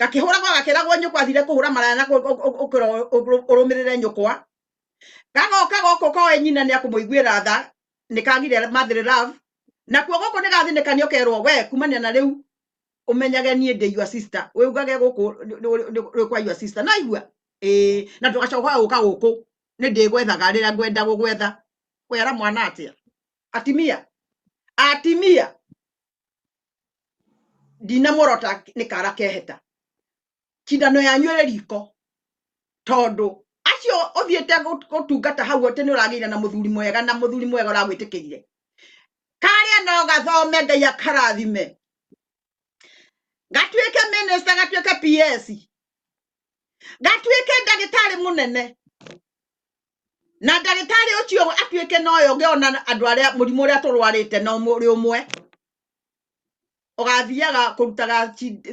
Speaker 1: gakĩhũragwo gakĩragwo nyũkwa thire kũhũra maraya na ũrũmĩrĩre nyũkwa gagoka gũkũ koe nyina nĩ akũmũiguĩra tha nĩ kagire mathĩrĩ love nakuo gũkũ nĩ gathĩnĩkanio kerwo we kumania na rĩu ũmenyage niĩ ndĩ your sister wĩugage gũkũ rĩ kwa your sister naigua ĩĩ na ndũgacoka gũka gũkũ nĩ ndĩgwethaga rĩrĩa ngwenda gũgwetha kwera mwana atĩa atimia atimia ndinamũrota nĩ kara keheta cindano yanyu ĩrĩ riko tondũ acio ũthiĩte gũ- gũtungata hau atĩ nĩ ũragĩire na mũthuri mwega na mũthuri mwega ũragwĩtĩkĩrire karĩa no gathome ngai akarathime gatuĩke minista gatuĩke ps gatuĩke ndagĩtarĩ mũnene na ndagĩtarĩ ũcio atuĩke na ũyũ ũngĩ ona andũ arĩa mũrimũ ũrĩa tũrwarĩte na ũrĩ ũmwe ũgathiaga kũrutaga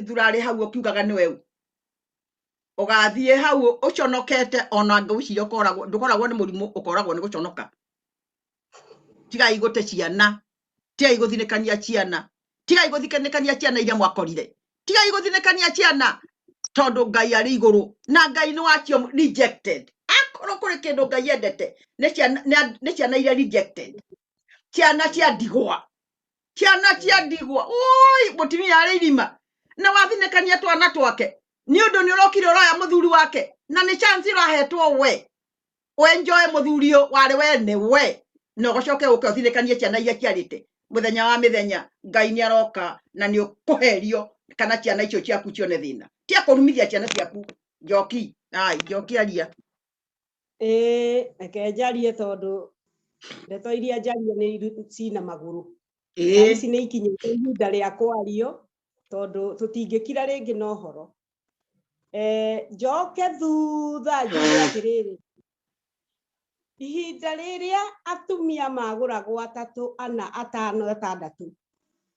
Speaker 1: thurarĩ hau ũkiugaga nĩ weu ũgathiĩ hau ũconokete ona ngwĩciria ũkoragwo ndũkoragwo nĩ mũrimũ ũkoragwo nĩ gũconoka tigai gũte ciana tigai gũthinĩkania ciana tigai gũthinĩkania ciana iria mwakorire tigai gũthinĩkania ciana tondũ ngai arĩ igũrũ na ngai nĩ wacio rejected akorwo kũrĩ kĩndũ ngai endete nĩ ciana- nĩ a- nĩ ciana iria rejected ciana cia ndigwa ciana cia ndigwa oi mũtumia arĩ irima na wathinĩkania twana twake nĩ ũndũ nĩ ũrokire ũroya mũthuri wake na nĩ chance ũrahetwo we wenjoe muthuri uyu wari we ni we na ugacoke uke uthinekanie ciana iria ciarite muthenya wa mithenya ngai ni aroka na ni ukuherio kana ciana icio ciaku cione thina ti akurumithia ciana ciaku njoki ai njoki aria ĩĩ reke njarie tondũ ndeto iria njarie nĩ iru- cina magũrũ na ĩĩ ici nĩ ikinyĩte ihinda rĩa kwario tondũ tũtingĩkira rĩngĩ na ũhoro Eh, njoke thutha njuge atĩrĩrĩ ihinda rĩrĩa atumia magũragwo atatũ ana atano atandatũ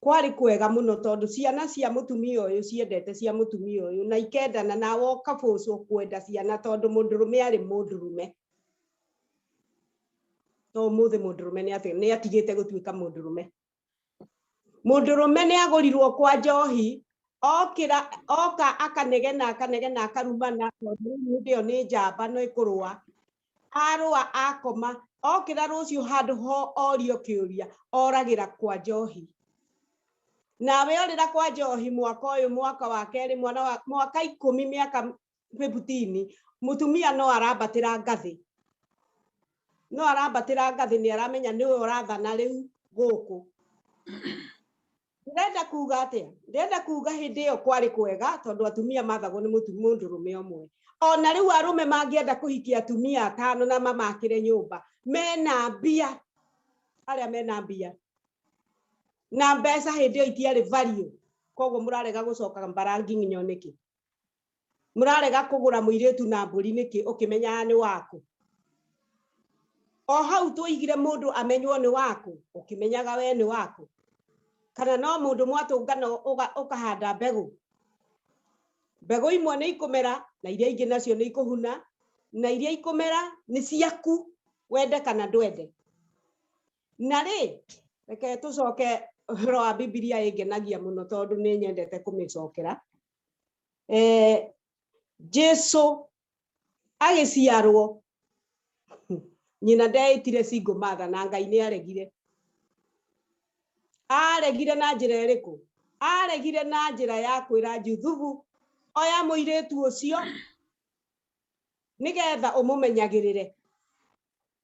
Speaker 1: kwarĩ kwega mũno tondũ ciana cia mũtumia ũyũ ciendete cia mũtumia ũyũ na ikendana na woka bũcũ kwenda ciana tondũ mũndũrũme arĩ mũndũrũme to mũthĩ mũndũrũme nĩ atigĩte gũtuĩka mũndũrũme mũndũrũme nĩ agũrirwo kwa njohi okĩra oka akanegena akanegena akarumana tondũ hĩndĩ ĩyo nĩ njamba no ĩkũrũa arũa akoma okĩra rũciũ handũ ho orio kĩũria oragĩra kwa njohi nawe orĩra kwa njohi mwaka ũyũ mwaka wa kerĩ mwana wa mwaka ikũmi mĩaka kwĩ butini mutumia no arambatĩra ngathĩ no arambatĩra ngathĩ nĩ aramenya nĩwe ũrathana rĩu gũkũ ndĩrenda kuga atĩa ndĩrenda kuga hĩndĩ ĩyo kwarĩ kwega tondũ atumia mathagwo nĩ mũndũrũme ũmwe ona rĩu arũme mangĩenda kũhikia atumia atano na mamakĩre nyũmba mena mbia arĩa mena mbia na mbeca hĩndĩ ĩyo itiarĩ value koguo mũrarega gũcoka mbarangi nginya nĩkĩ murarega kugura muiritu na mburi niki ukimenyaga ni waku o hau tuigire mundu amenywo ni waku ukimenyaga we ni waku kana no mundu mwatungana ukahanda mbegu mbegu imwe ni ikumera na iria ingi nacio ni ikuhuna na iria ikumera ni ciaku wende kana ndwende na rĩ reke tũcoke ũhoro wa bibilia ĩngenagia mũno tondũ nĩ nyendete kũmĩcokera eh, jesu agĩciarwo nyina ndeĩtire single mother na ngai nĩ aregire aregire na njĩra ĩrĩkũ aregire na njĩra ya kwĩra juthubu oya mũirĩtu ũcio nĩgetha ũmũmenyagĩrĩre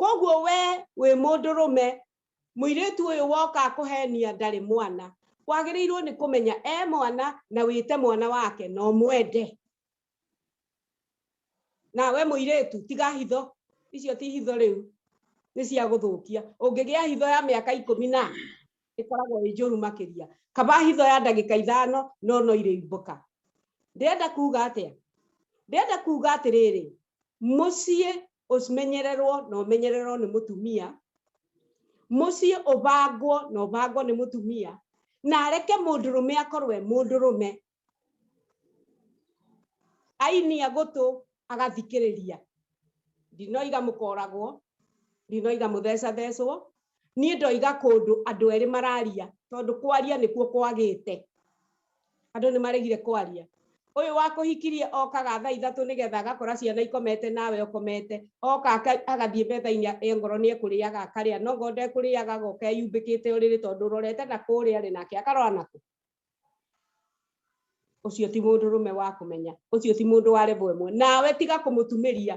Speaker 1: koguo we wĩ mũndũrũme mũirĩtu ũyũ woka kũhenia ndarĩ mwana wagĩrĩirwo nĩ kũmenya e mwana na wĩte mwana wake no mwende na we mũirĩtu tiga hitho icio ti hitho rĩu nĩ cia gũthũkia ũngĩgĩa hitho ya mĩaka ikũmi na ĩkoragwo ĩ njũru makĩria kaba hitho ya ndagĩka ithano no no irĩimbũka ndĩrenda kuga atĩa ndĩrenda kuga atĩrĩrĩ mũciĩ ũmenyererwo na ũmenyererwo nĩ mũtumia mũciĩ ũbangwo na ũbangwo nĩ mũtumia na areke mũndũrũme akorwe mũndũrũme ainia gũtũ agathikĩrĩria ndinoiga mũkoragwo ndinoiga mũthecathecwo niĩ ndoiga kũndũ andũ erĩ mararia tondũ kwaria nĩkuo kwagĩte andũ nĩ maregire kwaria ũyũ wakũhikirie okaga thaa ithatũ nĩgetha agakora ciana ikomete nawe ũkomete oka agathiĩ metha-inĩ e ngoro nĩ ekũrĩaga akarĩa no ngo ndekũrĩaga agoka eyumbĩkĩte ũrĩrĩ tondũ ũrorete na kũrĩa rĩ nake akarora nakũ ũcio ti mũndũ rũme wa kũmenya ũcio ti mũndũ wa level ĩmwe nawe tiga kũmũtumĩria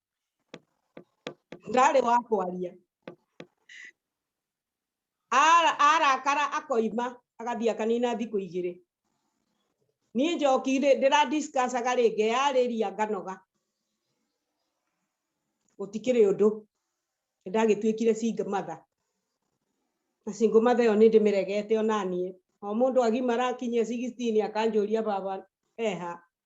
Speaker 1: ndarĩ wa kwaria Ara- arakara akoima agathiĩ akanina thikũ igĩrĩ niĩ njoki rĩ- ndĩradiscussaga rĩ ngeyarĩria nganoga gũtikĩrĩ ũndũ ndagĩtuĩkire single mother na single mother ĩyo nĩ ndĩmĩregete onaniĩ o mũndũ agimara akinyia 16 akanjũria baba eha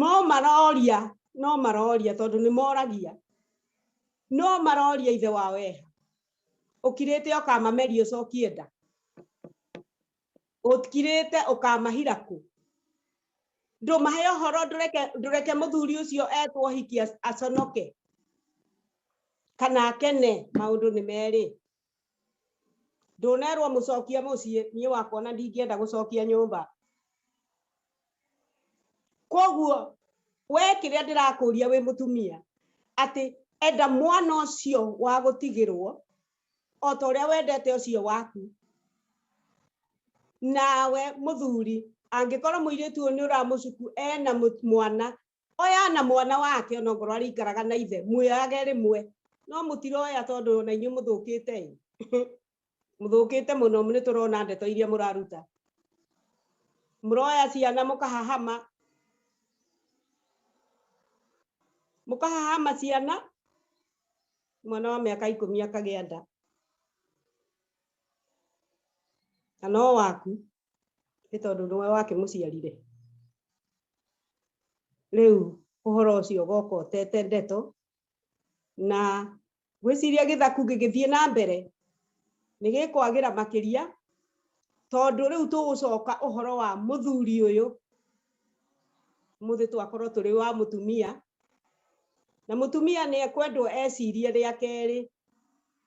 Speaker 1: no maroria no maroria tondũ nĩ moragia no maroria ithe wao eha ũkirĩte ũkamameria ũcokie nda ũkirĩte ũkamahira kũ ndũmahe ũhoro ndũreke ndũreke mũthuri ũcio etwo hiki aconoke kana akene maũndũ nĩ merĩ ndũnerwo mũcokie mũciĩ niĩ wakwa na ndingĩenda gũcokia nyũmba koguo we kĩrĩa ndĩrakũria wĩ mũtumia atĩ enda mwana ũcio wa gũtigĩrwo o ta ũrĩa wendete ũcio waku nawe mũthuri angĩkorwo mũirĩtu ũyũ nĩ ũramũcuku ena mwana oya na mwana wake ona ngorwo arĩikaraga na ithe mwĩage rĩmwe no mũtiroya tondũ ona inyuĩ mũthũkĩte ĩ mũthũkĩte mũno nĩ tũrona ndeto iria mũraruta mũroya ciana mũkahahama mũkahahama ciana mwana wa mĩaka ikũmi akagĩa nda na no waku nĩ tondũ nĩwe wakĩmũciarire rĩu ũhoro ũcio ũgoka ũtete ndeto na gwĩciria gĩthaku gĩgĩthiĩ na mbere nĩ gĩkwagĩra makĩria tondũ rĩu tũgũcoka ũhoro wa mũthuri ũyũ mũthĩ twakorwo tũrĩ wa mũtumia na mũtumia nĩ ekwendwo ecirie rĩa kerĩ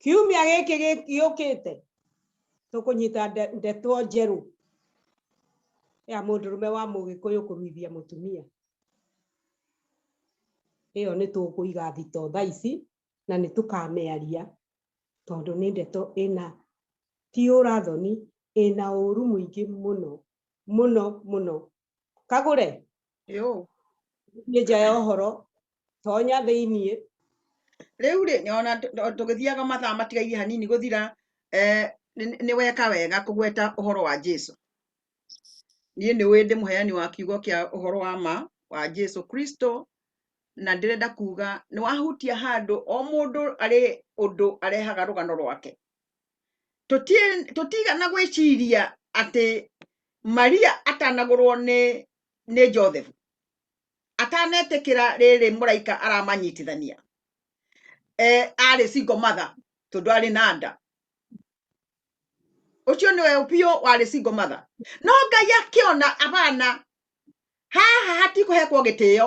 Speaker 1: kiumia gĩkĩ gĩ- gĩũkĩte tũkũnyita nde- ndeto njerũ ya mũndũrũme wa mũgĩkũyũ kũruithia mũtumia ĩyo nĩ tũkũiga thito thaa ici na nĩ tũkamĩaria tondũ nĩ ndeto ĩna ti ũrathoni ĩna ũru mũingĩ mũno mũno mũno kagure yo ni nja ya horo tonya thiini riu ri nyona tugithiaga mathaa matigaire hanini guthira eh ni weka wega kugweta uhoro wa Jesu ni ni we ndi muheani wa kiugo kia uhoro wa ma wa Jesu Kristo na ndirenda kuga ni wahutia handu o mundu ari undu arehaga rugano rwake tũtiĩ- tũtigana gwĩciria atĩ maria atanagũrwo nĩ nĩ joseph atanetĩkĩra rĩrĩ mũraika aramanyitithania e, arĩ single mother tondũ arĩ na nda ũcio nĩwe biũ warĩ single mother no ngai akĩona abana haha hatikũhekwo gĩtĩo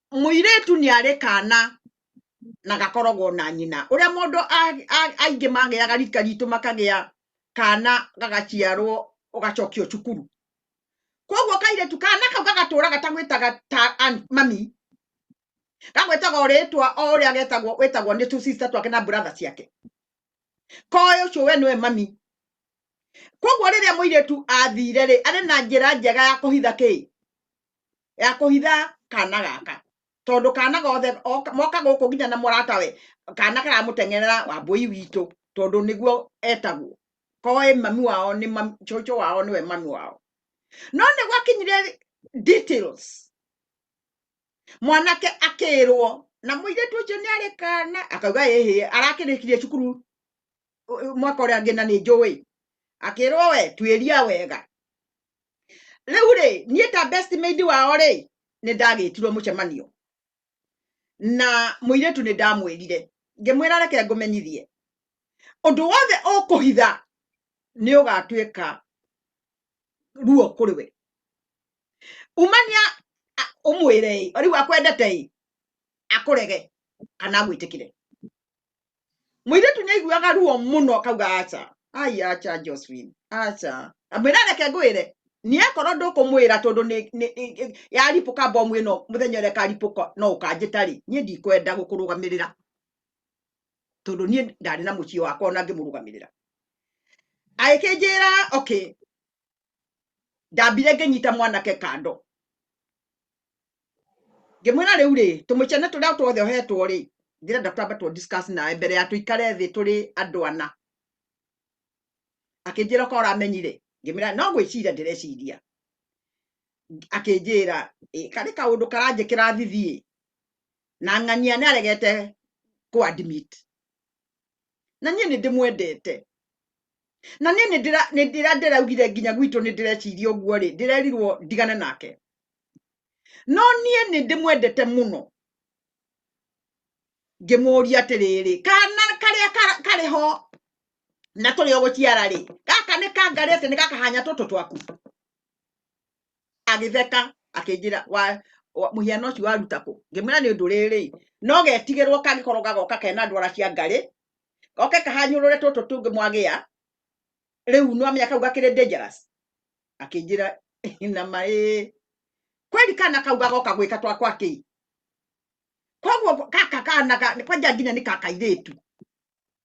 Speaker 1: mũirĩtu nĩ arĩ kana na gakoragwo na nyina ũrĩa mũndũ a- a- aingĩ magĩaga rika ritũ makagĩa kana gagaciarwo ũgacokio cukuru koguo kairĩtu kana kau gagatũra gatagwĩtaga ta an- mami gagwĩtaga o rĩtwa o ũrĩa getagwo wĩtagwo nĩ tũsista twake na brother ciake koĩ ũcio we nĩwe mami koguo rĩrĩa mũirĩtu athire rĩ arĩ na njĩra njega ya kũhitha kĩĩ ya kũhitha kana gaka tondũ kana gothe moka gũkũ nginya na mũratawe kana karamũteng'erera wambũi witũ tondũ nĩguo etagwo koĩ mami wao nĩ cũcũ wao nĩwe mami wao no nĩ gwakinyire details mwanake akĩrwo na mũirĩtu ũcio nĩ arĩ kana akauga ĩhĩ arakĩrĩkirie cukuru mwaka ũrĩa angĩ na nĩ njũĩ akĩrwo we tuĩria wega rĩu rĩ niĩ ta best maid wao rĩ nĩ ndagĩtirwo mũcemanio na mũirĩtu nĩ ndamwĩrire ngĩmwĩra reke ngũmenyithie ũndũ wothe ũkũhitha nĩ ũgatuĩka ruo kũrĩ we umania a- ũmwĩre ĩ rĩu akwendete ĩ akũrege kana agwĩtĩkĩre mũirĩtu nĩ aiguaga ruo mũno akauga aca ai aca Josephine aca amwĩra reke ngwĩre niĩ akorwo ndũkũmwĩra tondũ nĩ- nĩ- nĩ- yaripũka mbomu ĩno mũthenya ũrĩa ĩkaripũka no ũkanjĩta rĩ niĩ ndikwenda gũkũrũgamĩrĩra tondũ niĩ ndarĩ na mũciĩ wakwa ona ngĩmũrũgamĩrĩra agĩkĩnjĩra okay ndambire ngĩnyita mwanake kando ngĩmwĩra rĩu rĩ tũmĩcene tũrĩa tuothe ohetwo rĩ ndĩrenda twambe tũ discuss nawe mbere ya tũikare thĩ tũrĩ andũ ana akĩnjĩra ko ũramenyire ngĩmwĩra no gwĩciria ndĩreciria akĩnjĩra "Ĩ, karĩ kaũndũ karanjĩkĩra thithiĩ na ng'ania nĩ aregete kũadmit na niĩ nĩ ndĩmwendete na niĩ nĩ ndĩra- nĩ ndĩra ndĩraugire nginya gwitũ nĩ ndĩreciria ũguo rĩ ndĩrerirwo ndigane nake no niĩ nĩ ndĩmwendete mũno ngĩmũria atĩrĩrĩ kana karĩa kara- karĩ ho na tũrĩ o gũciara rĩ gaka nĩ kangarĩ atĩ nĩ gakahanya tũtũ twaku agĩtheka akĩnjĩra wa wa- mũhiano ũcio waruta kũ ngĩmwĩra nĩ ũndũ rĩrĩ no getigĩrwo kangĩkorwo gagoka kena ndwara cia ngarĩ goke kahanyũrũre tũtũ tũngĩ mwagĩa rĩu no amenya kau gakĩrĩ dangerous akĩnjĩra na maĩ kweli kana kau gagoka gwĩka twa kwa kĩi koguo gaka kana ga- kwanja nginya nĩ kakairĩtu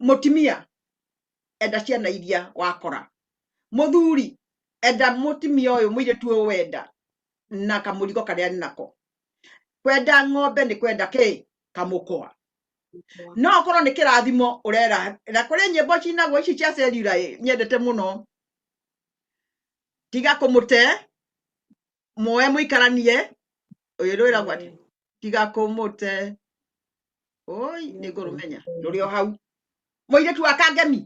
Speaker 1: mutumia enda ciana iria wakora muthuri enda mutumia uyu muiritu uyu wenda na kamurigo karia ni nako kwenda ng'ombe ni kwenda ki kamukwa no okorwo ni kirathimo urera na kuri nyimbo cinagwo ici cia cellular ĩ, nyendete muno tiga kumute mwoe mũikaranie ũyũ rwĩragwo atĩ tiga kũmũte oi nĩ ngũrũmenya rũrĩ o hau mũirĩtu wa kangemi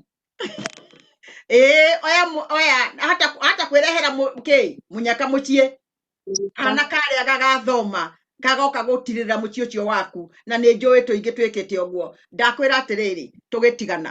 Speaker 1: ĩĩ oya mũ- oya hata hata kwĩrehera mũ- kĩ mũnyaka mũciĩ kana karĩa gagathoma kagoka gũtirĩra mũciĩ ũcio waku na nĩ njũĩ tũingĩ twĩkĩte ũguo ndakwĩra atĩrĩrĩ tũgĩtigana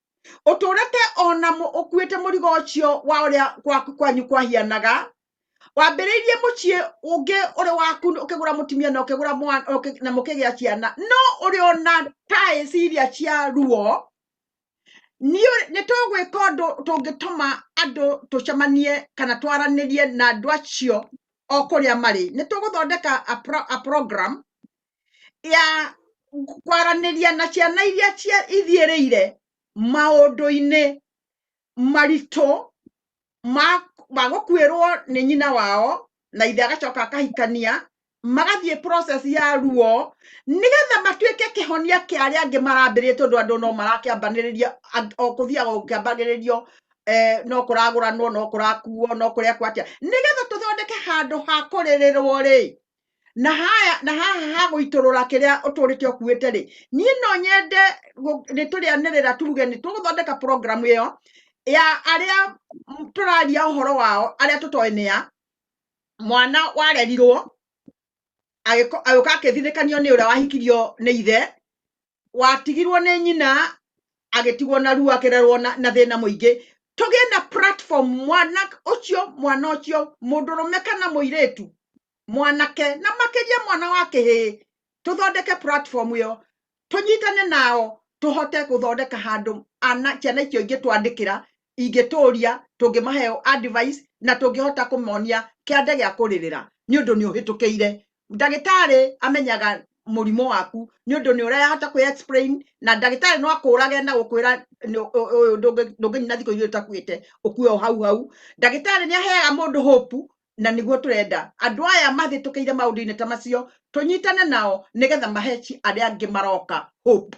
Speaker 1: ũtũrĩte ona ũkuĩte mũrigo ũcio wa ũrĩa gwaku kwanyu kwahianaga wambĩrĩirie mũciĩ ũngĩ ũrĩ waku ũkĩgũra mũtumia na ũkĩgũra mwana na mũkĩgĩa ciana no ũrĩ ona taĩ ciria cia ruo nĩ tũgwĩka ũndũ tũngĩtũma andũ tũcemanie kana twaranĩrie na andũ acio o kũrĩa marĩ nĩ tũgũthondeka a program ya kwaranĩria na ciana iria cia- ithiĩrĩire maũndũ-inĩ maritũ ma ma gũkuĩrwo nĩ nyina wao na ithe agacoka akahikania magathiĩ process ya ruo nĩgetha matuĩke kĩhonia kĩa arĩa angĩ marambĩrĩria tondũ andũ no marakĩambanĩrĩria ang- o kũthiaga gũkĩambagĩrĩrio eh, no kũragũranwo no kũrakuo no kũrekwo atĩa nĩgetha tũthondeke handũ ha kũrĩrĩrwo rĩ na haya na haha ha gũitũrũra kĩrĩa ũtũrĩte ũkuĩte rĩ niĩ no nyende gũ- nĩ tũrĩanĩrĩra tuge nĩ tũgũthondeka programu ĩyo ya arĩa m- tũraria ũhoro wao arĩa tũtoĩ nĩ ya mwana warerirwo agĩko- agĩũka akĩthirikanio nĩ ũrĩa wahikirio nĩ ithe watigirwo nĩ nyina agĩtigwo na ruo akĩrerwo na, na thĩna mũingĩ tũgĩe na platform mwana ũcio mwana ũcio mũndũrũme kana mũirĩtu mwanake na makĩria mwana wa kĩhĩĩ tũthondeke platform ĩyo tũnyitane nao tũhote gũthondeka handũ ana ciana icio ingĩ twandĩkĩra ingĩtũria tũngĩmahe advice na tũngĩhota kũmonia kĩande gĩa kũrĩrĩra nĩ ũndũ nĩ ũhĩtũkĩire ndagĩtarĩ amenyaga mũrimũ waku nĩ ũndũ nĩ ũrahota kwĩ explain na ndagĩtarĩ no akũrage na gũkwĩra nĩ- ũ- ũyũ ndũngĩ- ndũngĩnyina thikũ igĩrĩ ũtakuĩte ũkue o hau hau ndagĩtarĩ nĩ aheaga mũndũ hope na nĩguo tũrenda andũ aya mahĩtũkĩire maũndũ-inĩ ta macio tũnyitane nao nĩgetha mahe ci- arĩa angĩ maroka hope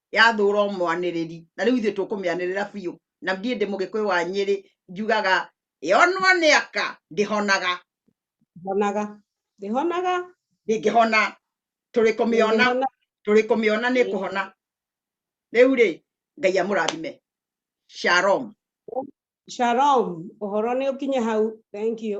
Speaker 1: yathũra o mwanĩrĩri na rĩu ithuĩ tũkũmĩanĩrĩra biũ na ndiĩ ndĩ mũgĩkũyũ wa nyĩrĩ njugaga yonwo nĩ aka ndĩhonaga honaga ndĩhonaga ndĩngĩhona tũrĩ kũmĩona ndĩngĩhona tũrĩ kũmĩona nĩ kũhona rĩu rĩ ngai amũrathime shalom shalom ũhoro nĩ ũkinye hau thank you